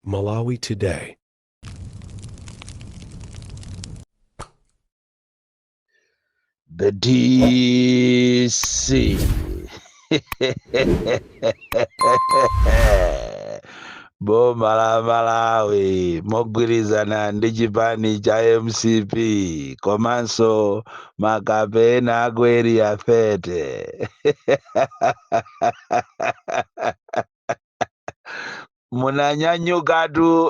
Malawi Today. The DC. Boma la Malawi mogwirizana ndi chipani cha MCP komanso makape ena aku Area 30. munanyanyukatu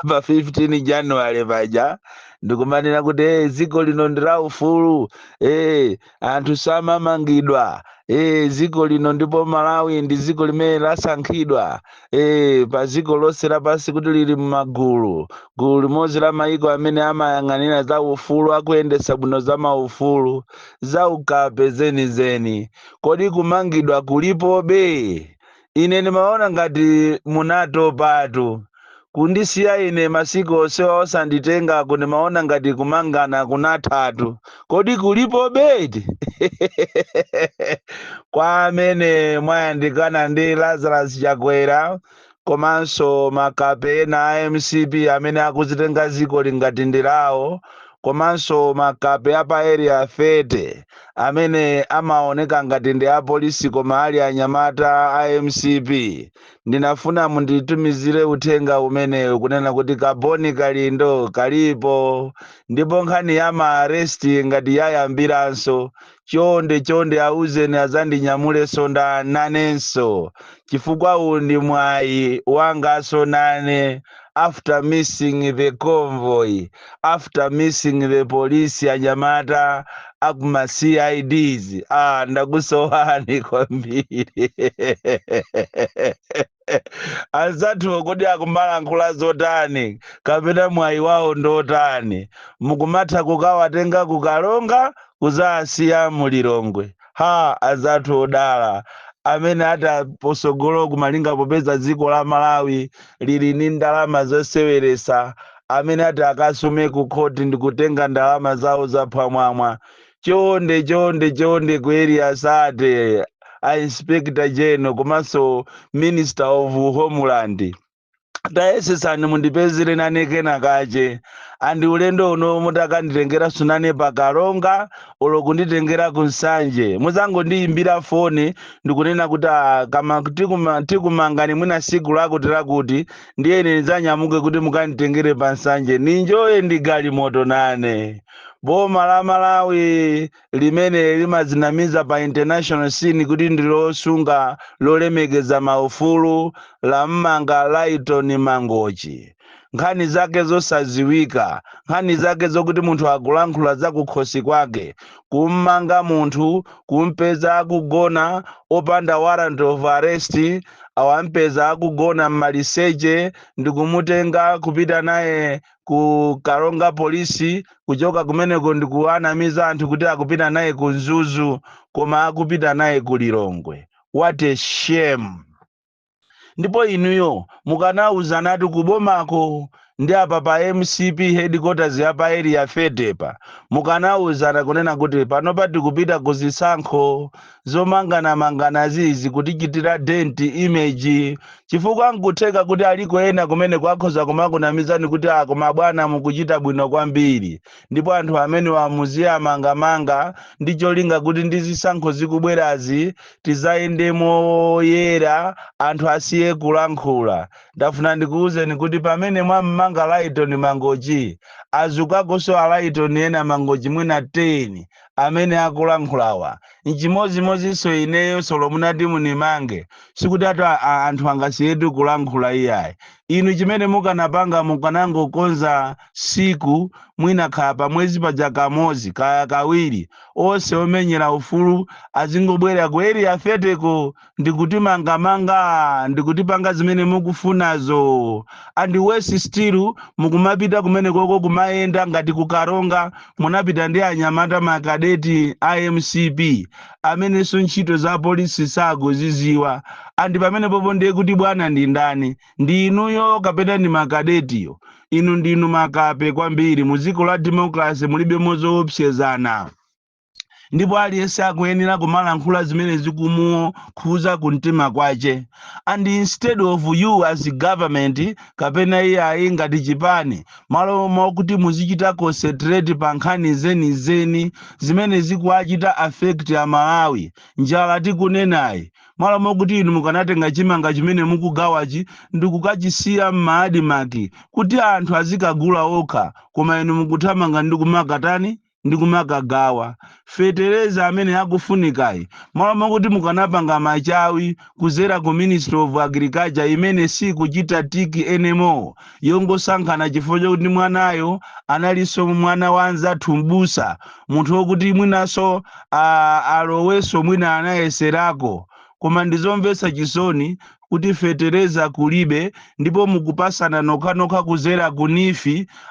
pa 15 january paja ndikumanena kuti hey, dziko lino ndi la ufulu hey, anthu samamangidwa hey, dziko lino ndipo malawi ndi dziko limene lasankhidwa hey, pa dziko lonse lapansi kuti lili m'magulu gulu limodzi la mayiko amene amayang'anira za ufulu akuyendetsa bwino za maufulu za ukape zenizeni Kodi kumangidwa kulipobe? Ine ndimaona ngati munatopatu. Kundisiya ine masiku onsewa osanditengaku ndimaona ngati kumangana kunathatu. Kodi kulipobe eti? Kwa amene mwayandikana ndi Lazarus Chakwera, komanso makape ena a mcp amene akuzitenga ziko ili ngati ndi lawo komanso makape apa area 30 amene amaoneka ngati ndi apolisi koma ali anyamata a mcp ndinafuna munditumizire uthenga umenewu kunena kuti kaboni kalindo kalipo ndipo nkhani ya maaresti ngati yayambiranso chonde chonde auzeni azandinyamulesonda nanenso chifukwa uwu ndi mwayi wangaso nane after missing the convoy after missing the police anyamata akuma cids ah ndakusowani kwambiri anzathu kodi akumalankhula zotani kapena mwayi wawo ndotani mukumatha kukawatenga ku Karonga kuzasiya mu Lilongwe ha anzathu odala amene atsogola kumalinga popeza dziko la malawi lili ndi ndalama zoseweresa amene ati akasume ku khoti ndikutenga ndalama zawo zaphwamwamwa chonde chonde chonde ku area 30 a inspector general komanso minister of homeland tayesesani mundipezere nane kenakake andi ulendo uno mutakanditengeraso nane pa karonga olo kunditengera ku nsanje muzangondiyimbira foni ndikunena kuti "Ah, kama tikuma- tikumangani mwina siku lakuti lakuti ndiye ine ndidzanyamuke kuti mukanditengere pa nsanje ninjoye ndi galimoto nane Boma la Malawi limene limadzinamiza pa international scene kuti ndi losunga lolemekeza maufulu lammanga Lyton Mangochi. Nkhani zake zosadziwika, nkhani zake zokuti munthu akulankhula zakukhosi kwake, kummanga munthu, kumpeza akugona opanda warrant of arrest, awampeza akugona mmaliseche ndikumutenga kupita naye ku karonga polisi kuchoka kumeneko ndikuwanamiza anthu kuti akupita naye ku nzuzu koma akupita naye ku lilongwe what a shame ndipo inuyo mukanawuzanatu kubomako ndi apa pa mcp headquarters apa pa area 30 pa mukanawuzana kunena kuti panopa tikupita ku zisankho Zomanganamanganazi zikutichitira dent image chifukwa n'kutheka kuti aliko ena kumeneko akhoza kumakunamizani kuti ah koma bwana mukuchita bwino kwambiri ndipo anthu amenewa muziwamangamanga ndi cholinga kuti ndi zisankho zikubwerazi tizayende moyera anthu asiye kulankhula. Ndafuna ndikuuzeni kuti pamene mwam'manga Lyton Mangochi, azukakonso a Lyton ena Mangochi mwina 10 amene akulankhulawa. Nchimodzimodzinso ineyo solo munati munimange, sikuti ati a, a, anthu angasiyetu kulankhula iyayi. Inu chimene mukanapanga mukanangokonza siku mwina kaya pamwezi paja kamodzi kaya kawiri onse omenyera ufulu azingobwera ku area 30 ko ndi kutimangamanga ndi kutipanga zimene mukufunazo and worse still mukumapita kumenekoko kumayenda ngati kukaronga munapita ndi anyamata makadeti a mcp amenenso ntchito za polisi sakuziziwa and pamene popo ndiye kuti bwana ndi ndani ndi inuyo kapena ndi makadetiyo inu ndinu makape kwambiri mu dziko la democracy mulibe mo zoopsezana ndipo aliyense akuyenera kumalankhula zimene zikumukhuza ku mtima kwache and instead of you as government kapena iyayi ngati chipani malo mokuti muzichita concentrate pa nkhani zenizeni zimene zikuwachita affect amalawi njala tikunenayi malo mokuti inu mukanatenga chimanga chimene mukugawachi ndikukachisiya m'maadimaki kuti anthu azikagula okha koma inu mukuthamanga ndi kumakatani ndi kumakagawa fetereza amene akufunikayi malo mokuti mukanapanga machawi kuzera ku ministry of agriculture imene sikuchita tick anymore yongosankhana chifukwa chokuti mwanayo analinso mwana wa anzathu mbusa munthu wokuti mwinanso ah, alowenso mwina anayeserako koma ndizomvetsa chisoni kuti fetereza kulibe ndipo mukupasana nokhanokha kuzera ku NEEF,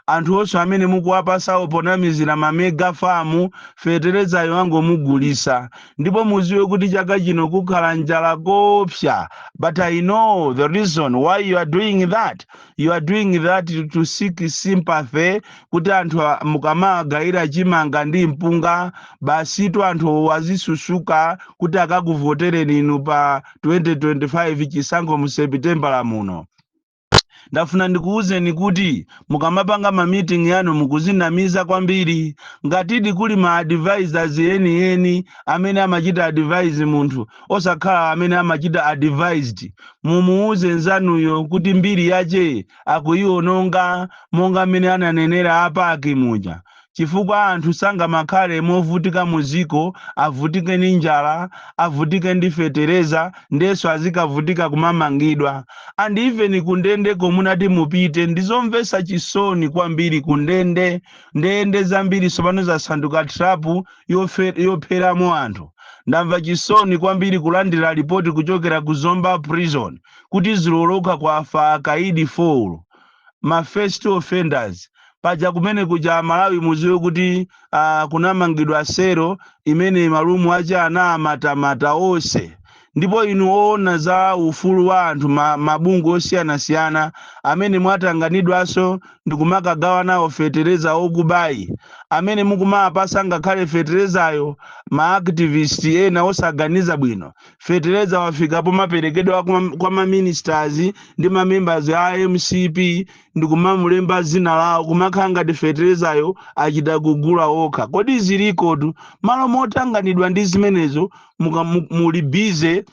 anthu onse amene mukuwapasawo ponamizira ma mega farm feterezayo wangomugulisa ndipo muziwe kuti chaka chino kukhala njala koopsa but I know the reason why you are doing that you are doing that to seek sympathy kuti anthu a- mukamawagayira chimanga ndi mpunga basitu anthu azisusuka kuti akakuvotereni inu pa 2025 chisankho mu sepitembala muno ndafuna ndikuwuzeni kuti mukamapanga ma meeting yanu mukuzinamiza kwambiri ngatidi kuli ma advisors enieni amene amachita advise munthu osakhala amene amachita advised mumuwuze nzanuyo kuti mbiri yache akuyiwononga monga mmene ananenera apaki muja chifukwa anthu sangamakhale movutika muziko avutike ndi njala avutike ndi fetereza ndenso azikavutika kumamangidwa and even kundende komwe mukuti mupite ndizomvesa chisoni kwambiri kundende ndende zambiri sopano zasanduka trap yofe- yopheramo anthu ndamva chisoni kwambiri kulandira lipoti kuchokera ku zomba prison kuti dzulo lokha kwafa akaidi 4 ma first offenders paja kumene kuja amalawi muziwe kuti uh, kunamangidwa sero imene malumu aja anamatamata onse ndipo inu oona za ufulu wa anthu ma, mabungwe osiyanasiyana amene mwatanganidwanso ndikumakagawa nawo fetereza okubayi amene mukumawapasa ngakhale feterezayo ma activist ena osaganiza bwino fetereza wafika pomaperekedwa kwa, kwa maministers ndi mamembers a mcp ndikumamulemba zina lawo kumakhala ngati feterezayo achita kugula okha kodi zilikotu malo motanganidwa ndi zimenezo muka- mu- muli bize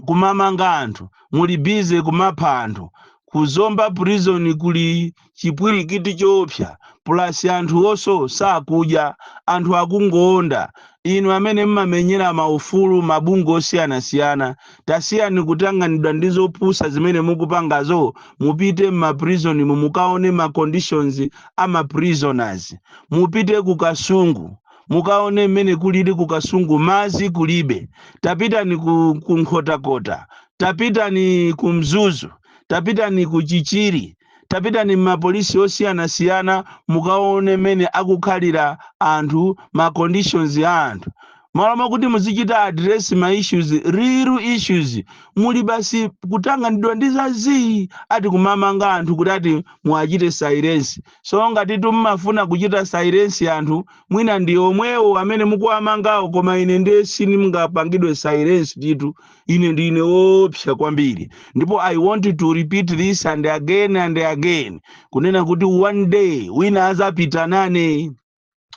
kumamanga anthu muli bize kumapha anthu kuzomba prison kuli chipwilikiti choopsa plus anthu onse sakudya anthu akungoonda inu amene mmamenyera ma ufulu ma bungwe osiyanasiyana tasiyani kutanganidwa ndi zopusa zimene mukupangazo mupite mma prison mu mukaone ma conditions a ma prisoners mupite ku kasungu mukaone mmene kulili ku kasungu mazi kulibe tapitani ku, ku nkhotakota tapitani ku mzuzu tapitani ku chichiri Tapitani mma police osiyanasiyana mukaone mmene akukhalira anthu ma conditions a anthu. Mmalo mokuti muzichita address ma issues, real issues, muli basi kutanganidwa ndi za zii ati kumamanga anthu kuti ati muwachite silence. So ngatitu mmafuna kuchita silence anthu, mwina ndi omwewo amene mukuwamangawo koma ine nde siningapangidwe silence tu. ine ndine woopsa kwambiri ndipo i want to repeat this and again and again kunena kuti one day wina azapita nane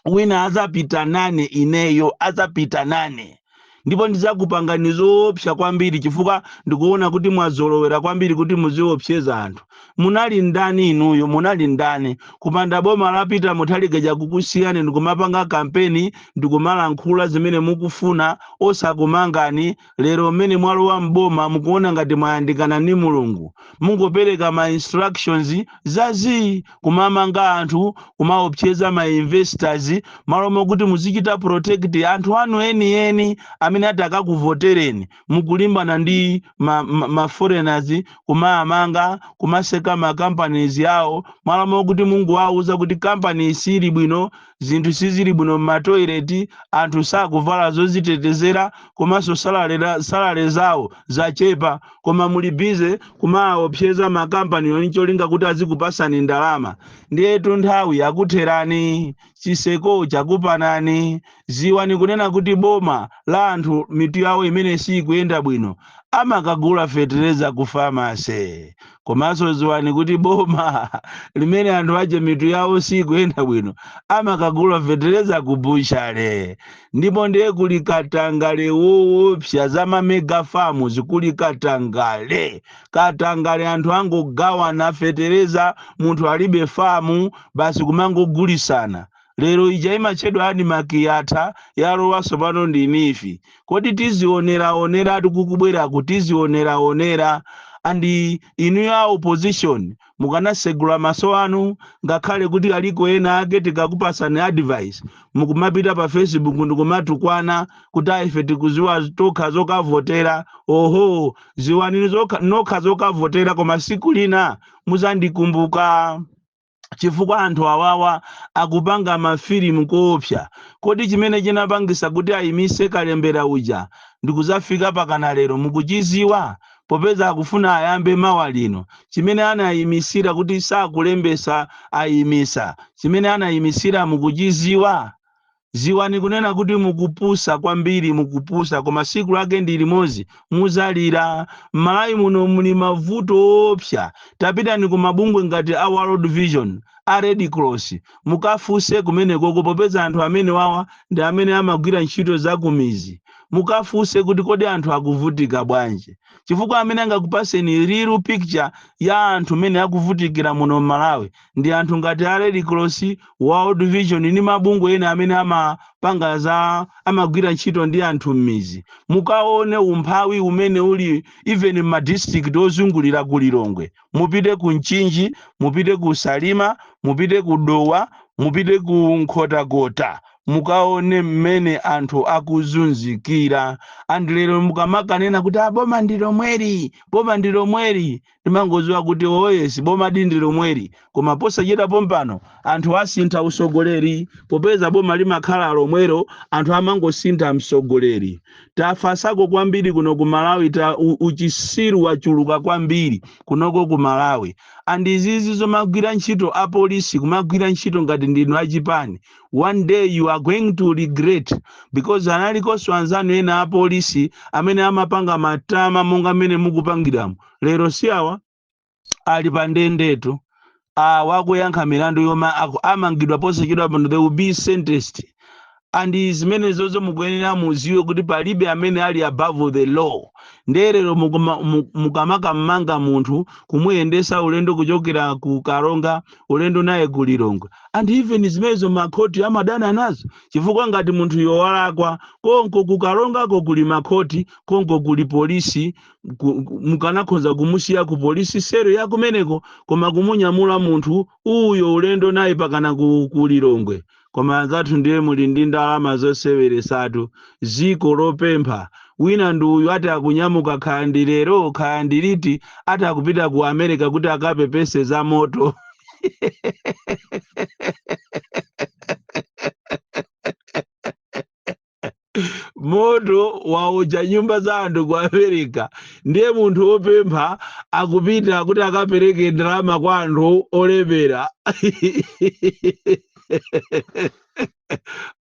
wina azapita nane ineyo azapita nane ndipo ndizakupangani zoopsa kwambiri chifukwa ndikuona kuti mwazolowera kwambiri kuti muziopseza anthu munali ndani inuyo munali ndani kupanda boma la peter muthalika chakukusiyani ndikumapanga kampeni ndikumalankhula zimene mukufuna osakumangani lero mmene mwalowa mboma mukuona ngati mwayandikana ndi mulungu mungopereka ma instructions zazii kumamanga anthu kumaopseza ma investors malo mokuti muzichita protect anthu anu enieni amene atakakuvotereni mukulimbana ndi ma foreigners kumamanga kumaseka ma companies yawo malo mokuti mungowauza kuti company sili bwino zinthu sizili bwino m'matoilet anthu sakuvala zozitetezera komanso salale zawo zachepa koma muli bize kumaopseza makampaniyo ncholinga kuti azikupasani ndalama ndiyetu nthawi yakutherani chiseko chakupanani ziwani kunena kuti boma la anthu mitu yawo imene siikuyenda bwino amakagula fetereza ku famase komanso ziwani kuti boma limene anthu ache mitu yawo siikuyenda bwino amakagula fetereza ku butchale ndipo ndiye kuli katangale woopsa za mamega famuzi kuli katangale katangale anthu angogawana fetereza munthu alibe famu basi kumangogulisana lero ija imatchedwa animak yatha yalowanso pano ndi nifi kodi tizioneraonera kukubweraku tizioneraonera and inuyo a opposition Mukanatsegula maso anu ngakhale kuti aliko ena ake tikakupasani advice mukumapita pa facebook ndikumatukwana kuti a ife tikuziwa tokha zokavotera ohoo ziwani nokha zokavotera koma siku lina muzandikumbuka chifukwa anthu awawa akupanga mafilimu koopsa kodi chimene chinapangisa kuti ayimise kalembera uja ndikuzafika pakana lero mukuchiziwa popeza akufuna ayambe mawa lino, chimene anayimisira kuti sakulembesa ayimisa, chimene anayimisira mukuchiziwa? Ziwani kunena kuti mukupusa kwambiri mukupusa koma siku lake ndilimozi muzalira, mmalawi muno muli mavuto oopsa tapitani ku mabungwe ngati a world vision, a red cross mukafunse kumenekoko popeza anthu amenewawa ndi amene amagwira ntchito zakumizi, Mukafunse kuti kodi anthu akuvutika bwanji? Chifukwa amene angakupaseni real picture ya anthu mmene akuvutikira muno m'Malawi ndi anthu ngati a Red Cross, World Vision ndi mabungwe ena amene amapanga za amagwira ntchito ndi anthu m'midzi. Mukaone umphawi umene uli even m'ma district ozungulira ku Lilongwe. Mupite ku Mchinji, mupite ku Salima, mupite ku Dowa, mupite ku Nkhotakota. mukaone mmene anthu akuzunzikira and lero mukamakanena kuti boma ndi lomweli boma ndi lomweli ndimangoziwa kuti oyesi boma di ndi lomweli koma posachita pompano anthu asintha usogoleri popeza boma limakhala lomwelo anthu amangosintha msogoleri tafasako kwambiri kuno ku malawi ta u- uchisiru wachuluka kwambiri kunoko ku malawi and izizi zomagwira ntchito apolisi kumagwira ntchito ngati ndinu achipani one day you are going to regret because analikonso anzanu ena apolisi amene amapanga matama monga mmene mukupangiramo lero si awa ali pa ndendetu awa akuyankha milandu yomwe aku- amangidwa posachedwa pano they will be sentenced and zimenezozo mukuyenera muziwe kuti palibe amene ali above the law ndiye lero mukama- mu- mukamakamanga munthu kumuyendesa ulendo kuchokera ku karonga ulendo naye ku lilongwe and even zimenezo makhoti amadana nazo chifukwa ngati munthuyo walakwa konko ku karongako kuli makhoti konko kuli polisi ku- ku- mukanakhoza kumusiya ku polisi sero ya kumeneko koma kumunyamula munthu uyo ulendo naye pakana ku, ku lilongwe koma anzathu ndiye muli ndi ndalama zoseweresatu ziko lopempha wina ndi uyu ati akunyamuka kaya ndi lero kaya ndi liti ati akupita ku america kuti akapepese za moto moto waotcha nyumba za anthu ku america ndiye munthu wopempha akupita kuti akapereke ndalama kwa anthu olemera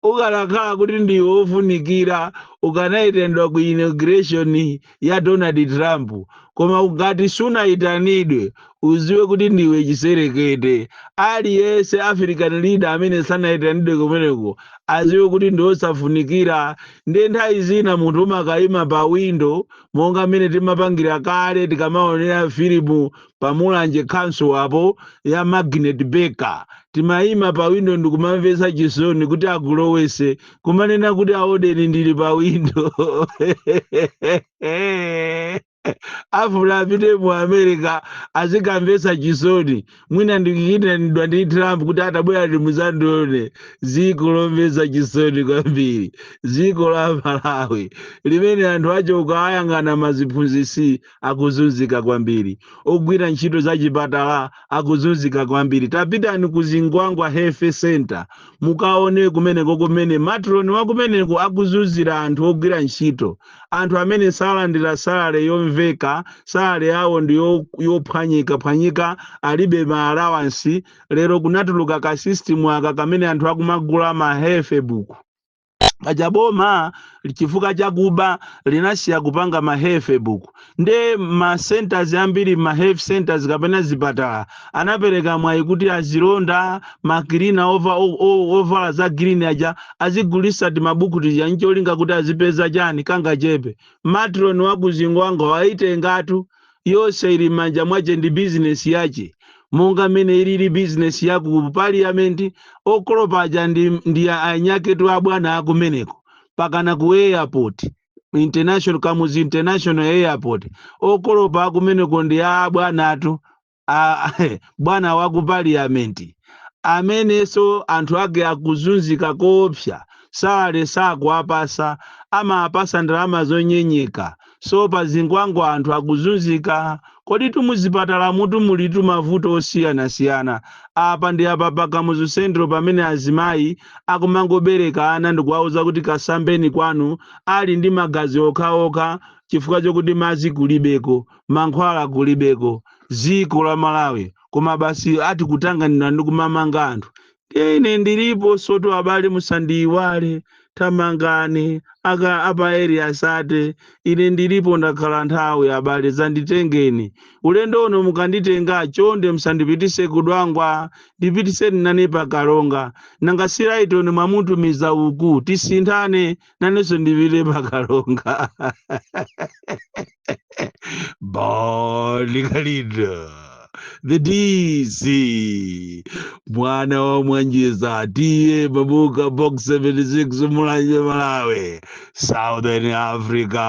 ukanakhala kuti ndiwe wofunikira ukanaitendwa ku inauguration ya Donald Trump koma ngati sunayitanidwe uziwe kuti ndiwe chiserekete aliyense African leader amene sanayitanidwe kumeneko aziwe kuti ndi osafunikira ndiye nthawi zina munthu umakayima pa windo monga mmene timapangira kale tikamaonera filimu pa mulanje council apo ya magnet baker timayima pa windo ndikumamvesa chisoni kuti agulowese kumanena kuti aodeni ndili pa windo afuna apite mu america azikamvesa chisoni mwina ndi kuitanidwa ndi trump kuti a tabwerani muzandione ziko lomvesa chisoni kwambiri ziko la malawi limene anthu ache ukawayang'ana maziphunzisi akuzunzika kwambiri ogwira ntchito za chipatala akuzunzika kwambiri tapitani ku zingwangwa health center mukaone kumeneko kumene matroni wakumeneko akuzunzira anthu ogwira ntchito anthu amene salandira salale yomveka salale yawo ndi yo- yophwanyikaphwanyika alibe ma allowance lero kunatuluka ka system aka kamene anthu akumagula ma health book paja boma chifukwa chakuba linasiya kupanga ma health book nde ma centers ambiri ma health centers kapena zipatala anapereka mwayi kuti azilonda makilina ova- o- o- ovala za green aja azigulisa timabuku tija ncholinga kuti azipeza chani kangachepe matron wakuzingwanga waitengatu Yonse ili m'manja mwache ndi bizinesi yache, monga m'mene iliri bizinesi ya ku paliyamenti, okolopa aja ndi, ndi a, anyaketu a bwana a kumeneko, mpakana ku airport, international, Kamuzu International Airport, okolopa a kumeneko ndi a abwanatu, a, bwana wa ku paliyamenti, amenenso anthu ake akuzunzika koopsa, salary sakuwapatsa, amawapatsa ndalama zonyenyeka, So pa Zingwangwa anthu akuzunzika, koditu muzipatalamutu mulitu mavuto osiyanasiyana. Apa ndi apa pa Kamuzu Central pamene azimayi akumangobereka ana ndikuwauza kuti kasambeni kwanu ali ndi magazi okhaokha chifukwa chokuti madzi kulibeko, mankhwala kulibeko. Dziko la Malawi koma basi ati kutanganidwa ndi kumamanga anthu. Ine ndiliponsotu abale musandiyiwale thamangani apa area 30 ine ndilipo ndakhala nthawi abale zanditengeni ulendo uno mukanditenga chonde musandipitise ku dwangwa ndipitiseni nane pa karonga nanga si lyton mwamutumiza uku tisinthane nanenso ndipite pa karonga bon kalindo the dc mwana wa mwanjiza t/a mabuka box 76 mulanje malawi southern africa